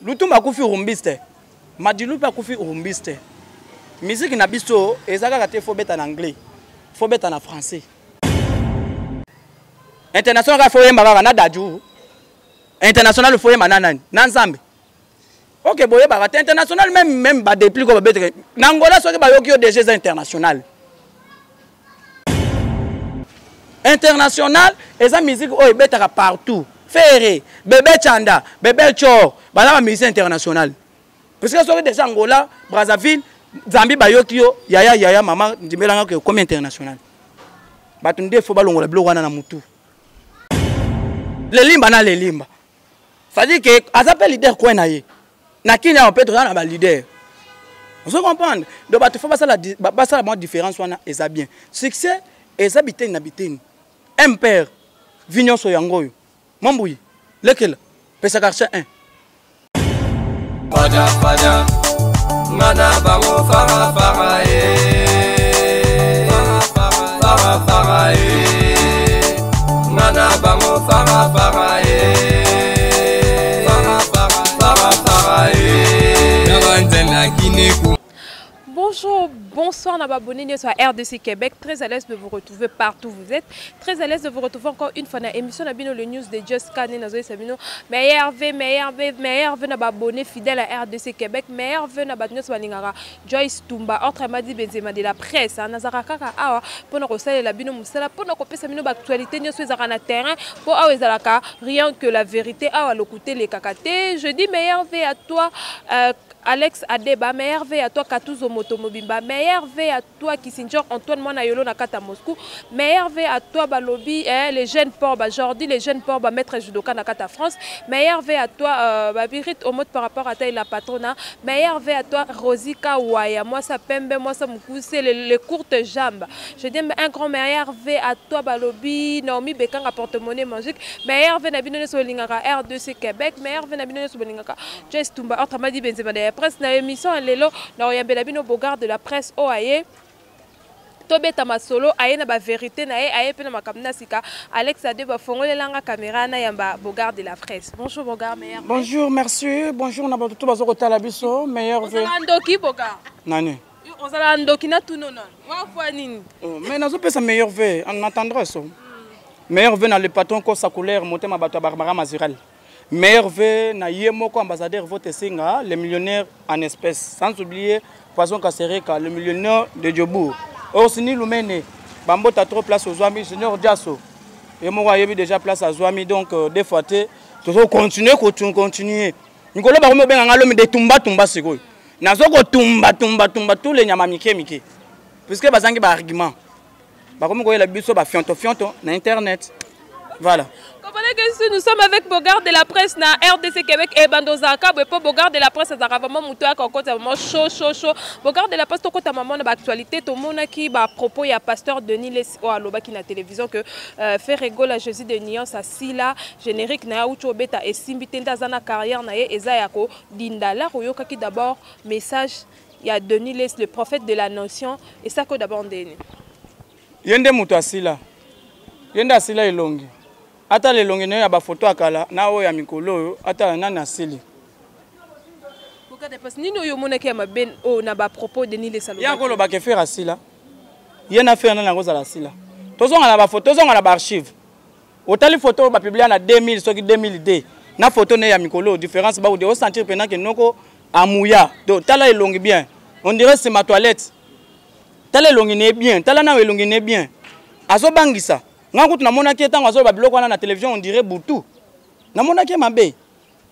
lutumba akufi rumbiste madilu mpe akufi rumbiste miziki na biso eza kaka te fobeta na anglais fobeta na français international kaka foyemba kaka na daju international foyemba na nani na nzambe ok boyebaka te international meme meme badeplik oyo babeteke na ngola soki bayoki yo deja eza international international eza musique oyo ebetaka partout ferre bebe chanda bebe chor baza ba musicien international puisque soki deja angola brazzaville zambi bayoki yo yaya yaya mama ndimelanga ke okomi international bato nde fo balongola biloko wana na motu lelimba na lelimba cestadire ke aza mpe leader kwe na ye na kini awa mpe toza na balider ozo comprendre donc bato fo basala basala mwa différence wana eza bien succès eza biteni na biteni mpere vi nyonso yango oyo mambuyi lekela pesa quartier 1 fada fada nga na bango fara fara e eh. fara fara e eh. Ngana bango fara fara eh. Fara fara fara fara eh. Nabanzela kineku. Bonjour, bonsoir na babone nyoso ya RDC Québec. Très à l'aise de vous retrouver partout où vous êtes. Très à l'aise de vous retrouver encore une fois dans l'émission Nabino le news de Just Kane Nazo Sabino. Meilleur V, meilleur V, meilleur V na babone fidèle à RDC Québec, meilleur V na batnyoso balingaka Joyce Tumba, autrement dit Benzema de la presse, hein, nazaka kaka awa pona kosalela bino musala, pona kopesa bino ba actualité nyoso ezaka na terrain, po awa ezalaka rien que la vérité, awa lokute lekaka te. Je dis meilleur vie à toi euh, Alex Adeba, meilleur vie à toi Katuzo Moto Mobimba, meilleur vie à toi Kissinger Antoine Mwana Yolo Nakata Moscou, meilleur vie à toi Balobi, eh, les jeunes Porba Jordi, les jeunes Porba Maître Judoka Nakata France, meilleur vie à toi euh, Babirit Omot par rapport à ta la patrona, Meilleur vœux à toi Rosie Kawaya, moi sa pembe, moi sa mukuse, les, les courtes jambes. Je dis un grand meilleur vœux à toi Balobi, Naomi Bekanga porte-monnaie magique. Meilleur vœux na bino ne solingaka R2C Québec, meilleur vœux na bino ne solingaka Joyce Tumba entre Madi Benzema de la presse na émission lelo na oyambela bino Bogard de la presse oaye. tobeta masolo aye na baverité na ye aye mpe na makambo na sika alex ade bafongolelanga caméra na yamba bogard de la presse bonjour bogard meilleur bonjour merci bonjour na bato to baza kotala biso meilleur ozala ndoki bogard nani ozala ndoki na tuno na wafwa nini oh, mais nazopesa meilleur ve na tendresse hmm. meilleur ve na le patron kosa couleur motema bato ya barbara mazural Meilleur vœu na ye moko ambassadeur vote senga le millionnaire en espèce sans oublier poisson kasereka le millionnaire de Djobourg Orsini Lumene bambota trop place ozwami junior Diasso ye moko ayebi déjà place azwami donc euh, des fois te tozo continuer continuer mikolo bakomi obenga ngai lomi de tumba tumba sikoyo nazo kotumba tumba tumba tous les nyama mike mike puisque bazangi ba argument bakomi koyela biso bafionto fionto na internet voilà nous sommes avec Bogard de la presse na RDC Québec et eh, Bandoza Kabwe pour Bogard de la presse azaka vraiment mutu aka kota vraiment chaud chaud chaud Bogard de la presse to kota maman ba actualité to mona ki ba propos ya pasteur Denis Les o oh, aloba ki na télévision que euh, faire Gola Jésus de nuance à Sila générique na ucho beta et simbi tenda zana carrière na ye eza yako dindala ko yokaki d'abord message ya Denis Les le prophète de la nation et ça ko d'abord ndeni ye nde moto asila ye nde asila elongi ata lelongi nayo ya bafoto ya kala na oyo ya mikolo oyo ata nani asili nini oyo omonaki ya mabe oyo oh, na bapropos denis lesalo ye akolobaka efere asila ye na fere nani akozala asila tozonga na bafoto tozonga na baarchive otali photo oyo bapublia na 2000 soki 2002 na photo ne ya mikolo différence baude osentir mpena ke noko amuya to tala elongi bien on dirait sima toilette tala elongi ne bien tala nayo elongi ne bien azobangisa ngai kutu namonaki ye ntango azoloba biloko wana na télévision on dirait butu namonaki ye mabe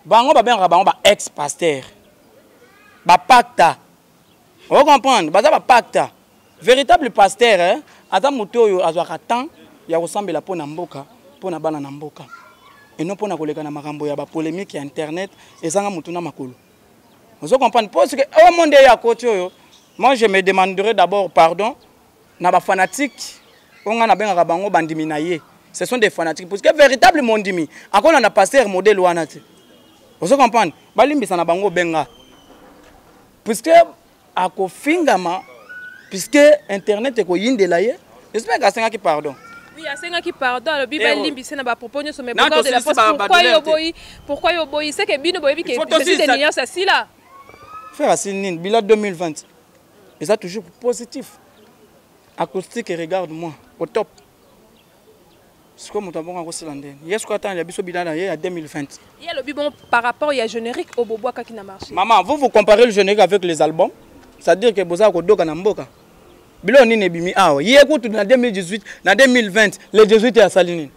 bango babengaka bango ba ex pasteur bapakta o comprendre baza ba pacta véritable pasteur eh? aza moto oyo azwaka temps ya kosambela mpo na mboka mpo na bana na mboka eno mpo na koleka na makambo ya bapolémique ya internet ezanga motu na makolo ozo comprendre mpo soki oyo monde eya koti oyo moi je me demanderai d'abord pardon na ba fanatiques oyo ngai nabengaka bango bandimi na ye ce sont des fanatiques parce que véritable mondimi akolanda pasteur modèle wana te ozo comprendre balimbisa na bango obenga puisque akofingama puisque internet ekoyindela ye j'espère que asengaki pardon Oui, asengaki pardon alobi eh, oh. balimbise na bapropos nyonso mais bocor de la poste pourquoi yo oboyi pourquoi yo oboyi seke bino boyebi ke de nuance asila frère asili nini bila 2020 eza toujours positif acoustique regarde moi au top sikoyo moto abongo akosila ndeni ye sikoyo atanga ya biso bina na ye ya 2020 ye alobi bon par rapport ya générique oyo bobwakaki na marché maman vous vous comparez le générique avec les albums c'est à dire que bozala kodoka na mboka biloko nini ebimi awa ye kutu na 2018 na 2020 le 18 asali nini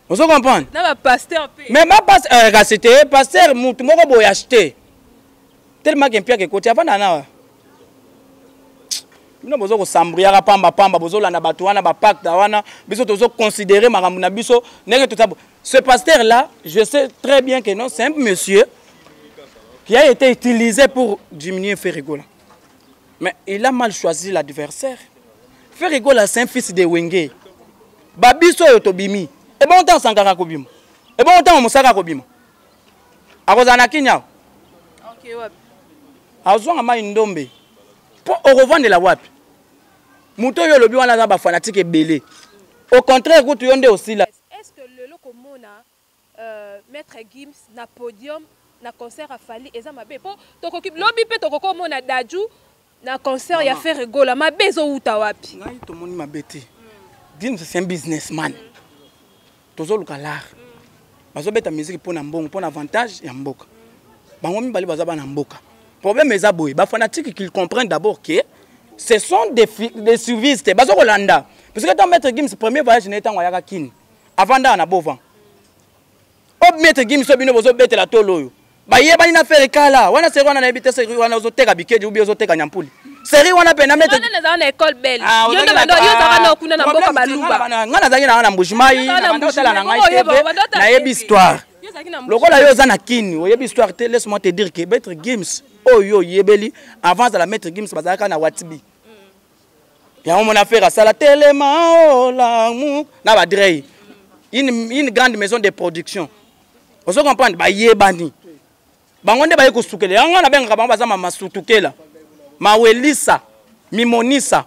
ozo comprendre na ba pasteur pe mais ba pas euh, rasete eh, pasteur mutu moko boye acheter tellement que mpiaka ekoti avanda nawa bino bozo kosambriaka pamba pamba bozolanda bato wana bapacte wana biso tozo considere makambo na biso ndenge toza ce pasteur là je sais très bien que non c'est un monsieur qui a été utilisé pour diminuer ferregola Mais il a mal choisi l'adversaire. Ferre Gola c'est un fils de Wenge. Babiso oyo tobimi. Et bon temps sankara kobima. Et bon temps mosaka kobima. Akozala na Kenya. Okay, wapi? Azonga mai ndombe. Po okovandela wapi? Moto oyo olobi wana aza ba fanatique ebele. Au contraire kutu yo nde osila. Est-ce que lelo komona Euh, maître Gims na podium na concert à Fally eza mabe po tokoki lobi pe tokoko mona Dadju na concert ya Ferre Gola mabe ezo wuta wapi ngai to moni mabe te Gims c'est un businessman tozo luka l'art bazo beta musique pona mbongo pona avantage ya mboka bango mibale baza bana mboka problème eza boye ba fanatique qu'ils comprennent d'abord que ce sont des des suivistes bazo kolanda parce que tant maître Gims premier voyage na etango ayaka Kin avandaka na bovan o maître gimi so bino bozobetela tolo oyo bayebani na fere kala wana seri wana nayebi te seri wana ozoteka bikedi ubi ozoteka nyampuli seri wana mpe na maître ah, yo nde bando yo ozalaka na okuna na mboka baluba ngai nazalaki na wana na mbujimai naotala na ngai te mpe nayebi histoire lokola yo oza na kini oyebi histoire te laisse moi te dire que maître gims oyo oyebeli avant azala maître gims bazalaka na watibi yango mona fere asala telema olamu oh, na badrey une, une grande maison de production ozo comprendre bayebani bango nde baye kosukela yango nabengaka bango baza mamasutukela mawelisa mimonisa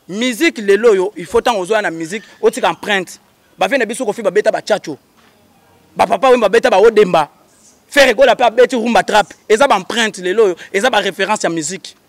miziki lelo oyo il faut ntango ozoya na miziki otika empreinte bavie na biso kofi babeta bachacho bapapa oyo babeta baodemba fere gola mpe abeti rumba trape eza baempreinte lelo oyo eza bareference ya miziki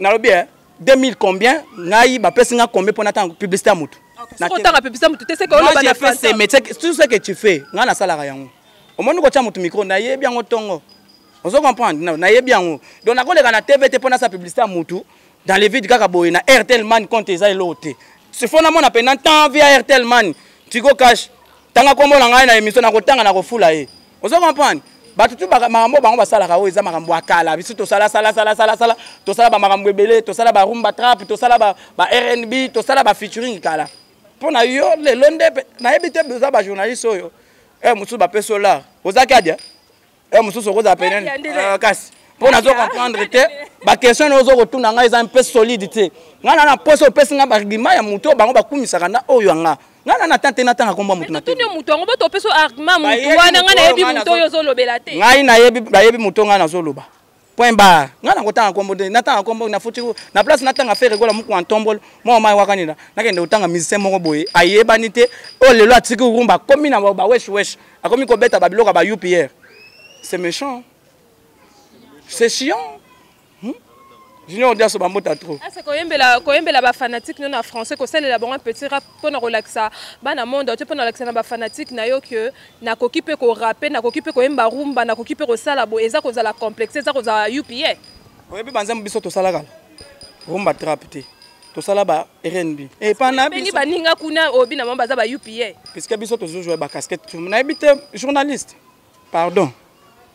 nalobi eh, 2000 combien ngai bapesi ngai combien mpo natanga publicité ya motu otanga publicité ya motu te seke oloba na français mais tout ce que tu fais ngai nasalaka yango omoni kotya motu micro nayebi yango ntongo ozo comprendre nayebi yango donc nakoleka na tv te mpo nasala publicité ya motu dans le vide kaka boye na airtel man compte eza eloko te sifo namona mpe na temps via airtel man tigo cash tanga kombo na ngai na emission na kotanga na kofula ye ozo comprendre bato tu makambo bango basalaka oyo eza makambo ya kala biso tosala sala sala sala sala tosala bamakambo ebele tosala barumba trap tosala ba rnb tosala bafeaturing kala mpo na yo lelo nde nayebi te oza bajournaliste oyo e eh, mosusu bapesi olar oza kadia heure mosusu okozala pene euh, kasi mpo nazo comprendre te baquestion na ozo kotuna ngai eza mpe solide te ngai na na mposa opesi ngai baargument ya moto oyo bango bakumisaka na oyo ya ngai ngai na natanga te natanga nkombo ya moto natuni moto yango boto opesi argument moto wana ngai nayebi moto oyo ozolobela te ngai nayebi bayebi moto ngai nazoloba point bar ngai nakotanga nkombo te natanga nkombo nafuti na place natanga fere gola mokua ntombolo mwa omai wakanila nakende kotanga musicien moko boye ayebani te oyo oh, lelo atiki rumba akomi na bawesh wesh akomi kobeta babiloko ya ba upr c'est méchant c'est chiant hmm? junior diaso bambota trop ah, koyembela koyembela bafanatique no na français kosalela bango petit rap mpo na kolakisa bana monde te mpo na kolakisa na bafanatique na yo ke nakoki mpe korape nakoki mpe koyemba rumba nakoki mpe kosala boye eza kozala complexe eza kozala upa oyebi banzambe biso tosalaka rumba trap te tosala ba rnb epanabeni eh, baninga kuna oyebi na bango baza ba upa puiske biso tozozwa bacasquete nayebi te journaliste pardon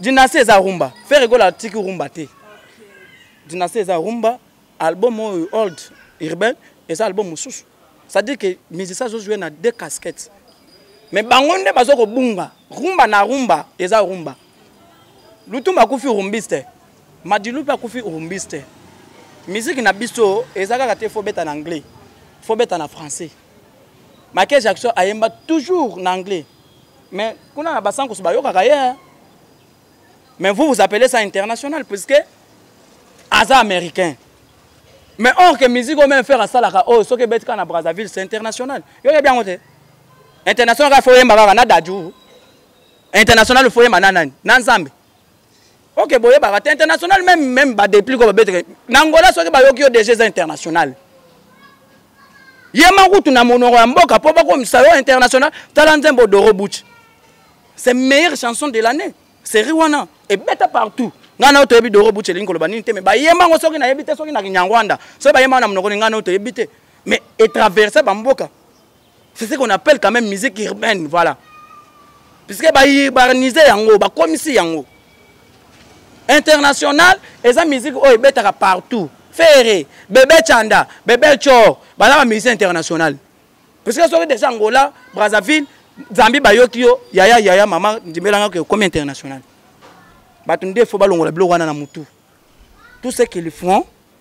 dynastie eza rumba fere gola atiki rumba te dynastie eza rumba album oyo old urbain eza album mosusu c'est-à-dire que musicien azozwa na deux casquettes mais bango nde baza kobunga rumba na rumba eza rumba lutumba akufi rumbiste madilu mpe akufi rumbiste miziki na biso eza kaka te fo beta na anglais fo beta na français Michael Jackson ayemba toujours na anglais. Mais kuna na basankusu bayokaka ye. Hein. Mais vous vous appelez ça international puisque aza américain. Mais or que musique au même faire asalaka oh soki ebeti kaka na Brazzaville c'est international. Yo yebi yango te. International kaka fo yemba kaka na Dadju. International fo yemba na nani? Na Nzambe. ok boyebaka te international meme meme badepli ko babeteke na angola soki bayoki yo deja eza international ye makutu na monoko ya mboka mpo bakomisa yo international tala nzembo doro buch c'est meilleure chanson de l'année série wana ebeta partout ngai nayo toyebi doro buch elingi koloba nini te mais bayemba yango soki nayebi te soki na kinyangwanda soki bayemba na monoko ni ngai nayo toyebi te mais etraverse bamboka c'est ce qu'on appelle quand même musique urbaine voilà puisque baurbanise yango bakomisi yango international eza musique oyo ebetaka partout fere bebe chanda bebe chor baza bamusicien international puisque soki deja angola brazzaville zambi bayoki yo yaya yaya mama ndimelanga ke okomi international bato nde fo balongola biloko wana na motu tout ce qu'ils font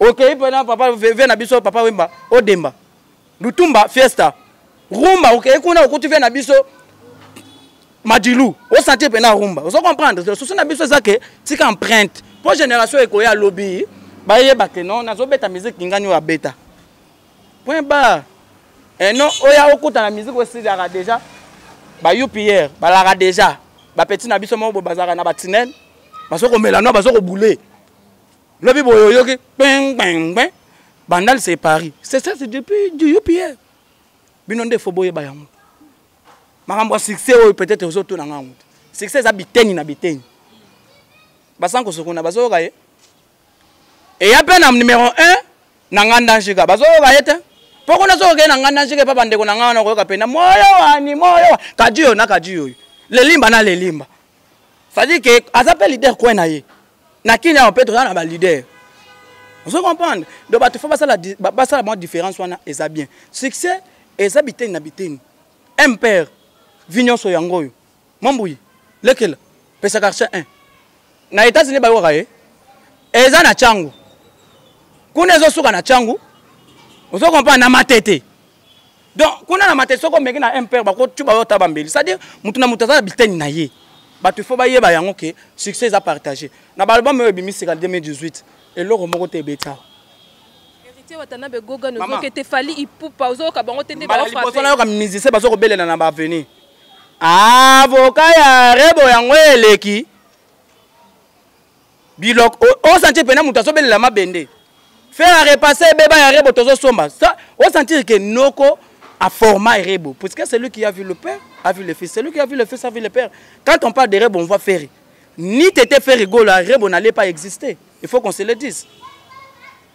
okei mpe na papa veve na biso papa wemba odemba lutumba fiesta rumba okei kuna okuti vie na biso madilu osanti mpe na rumba ozo comprendre susi na biso eza ke tika empreinte mpo génération ekoya lobi bayeba ke non nazobeta miziki ngani oyo abeta point bar eh non oya okuta na miziki osilaka déjà ba upr balaka déjà bapeti na biso moko boye bazalaka na batinene bazokomela no bazokoboule lobi boye oyoki kpengpengpe bandal c'est paris c'est ça c'est depuis du upa bino nde fo boyeba yango makambo ya succès oyo peut-être ozotuna nga yango succès eza biteni na biteni basankosokuna bazoyoka ye eya mpe na numero 1 na nga ndanjika bazoyoka ye te mpo kuna soki okei na nga ndanjika epa bandeko na nga wana okoyoka mpe na moyo wani moyo kadiyo na kadiyo oyo lelimba na lelimba cestadire ke aza mpe lider coin na ye na kini awa mpe toza na balider ozo comprendre donc bato fo basala basala mwa différence wana eza bien succès eza biteni na biteni mpere vi nyonso yango oyo mambuyi lekela pesa quartier 1 na états-unis bayokaka ye eza na cango kuna ezosuka na cango ozo comprendre na matete donc kuna na mate soko omeki na mpr bakotyuba yo ta bambeli c'est à dire motu na motu aza na biteni na ye bato ifo bayeba yango ke succès eza partage na baalbum oyo ebimi sika 2018 eloko moko te ebeta liboso nayoka musicien bazo kobelela na baavenir avoka ya rebo yango eleki bilok osantir mpena moto azobelela mabende faire a repasser ebeba ya rebo tozosomba osantir ke noko aforma rebo puisque celui qui a vu le père a vu le fils celui qui a vu le fils a vu le père quand on parle de rebo on voit ferre ni tete ferre gola rebo n'allait pas exister il faut qu'on se le dise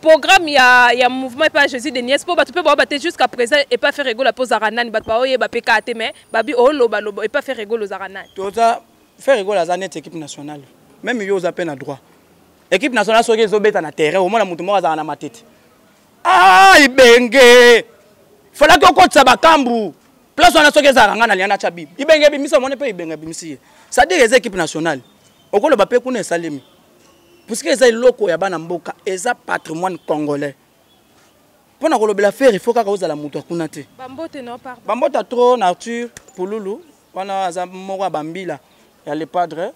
programme ya, ya mouvement epa jésus de nies mpo bato mpe baoba te jusqu'à présent epa faire egolo mpo ozaka nani bato baoyeba mpe kaa te mais babi olobaloba oh, epa faire egolo ozaka nani toza faire egolo aza neti équipe nationale meme yo oza mpe na droit équipe nationale soki ezobeta na terrain omona moto moko azalaka na matete ah ibenge falaki okotisa bakambu place wana soki ezalaka ngai na liana tya bibi ibenge ebimisi omoni mpe ibenge ebimisi ye sadire eza équipe nationale okoloba mpe kuna esalemi puisque eza eloko ya bana mboka eza patrimoine congolais mpo na kolobela fere fo kaka ozala moto akuna te bambota trop na arthur pululu wana aza moko ya bambila ya le padre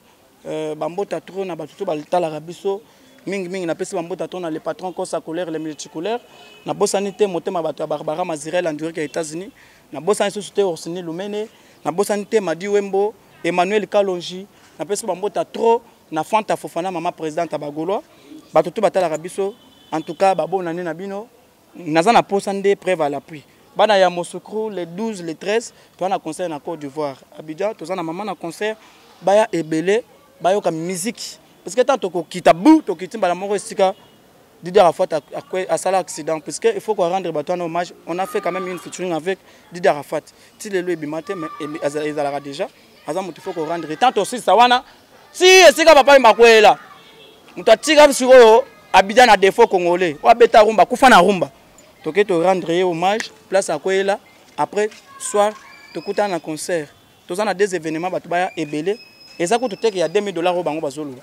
euh, bambota trop na bato to batalaka biso mingimingi napesi bambota to na le patron cosa colère le multicolère nabosani te motema bato ya barbara mazirel andurike ya états-unis nabosani susu te orsini lumene nabosani te madi wembo emmanuel kalonji napesi bambota trop na Fanta Fofana mama presidente ba Gaulois bato tout batalaka biso en tout cas babona ne na bino naza na posa nde preuve à l'appui bana ya Mosukru le 12 le 13 toza na concert na Côte d'Ivoire Abidjan toza na mama na concert baya ebele bayoka musique parce que tant tokokita bu tokiti mbala moko esika Didier Arafat a, a, a sala accident parce qu'il faut qu'on rendre Batoine hommage. On a fait quand même une featuring avec Didier Arafat. Tilelo et Bimate, mais ils allaient déjà. aza moto faut korendre tant tosilisa wana si esika papa wemba akweyela moto atika sikoyo abida na defaut congolais oyo abeta rumba akufa na rumba toke torendre ye hommage place akweyela après soir tokutana na concert toza na deux événements bato baya ebele eza kutu teke ya 2000 dollars oyo bango bazoloba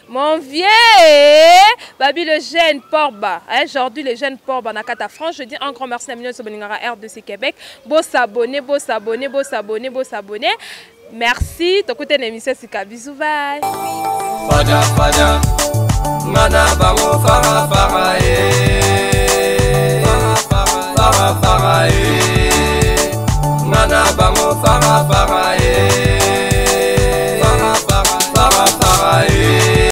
Mon vieux Babi le jeune Porba, hein, aujourd'hui le jeune Porba na Kata France, je dis un grand merci à Mignon Soboningara RDC Québec. Beau s'abonner, beau s'abonner, beau s'abonner, beau s'abonner. Merci, t'écoutes une émission Sika, bisous, bye. Fada, fada, mana bango fara fara eh, fara fara eh. Ngana bango fara fara eh. Fara fara fara fara eh.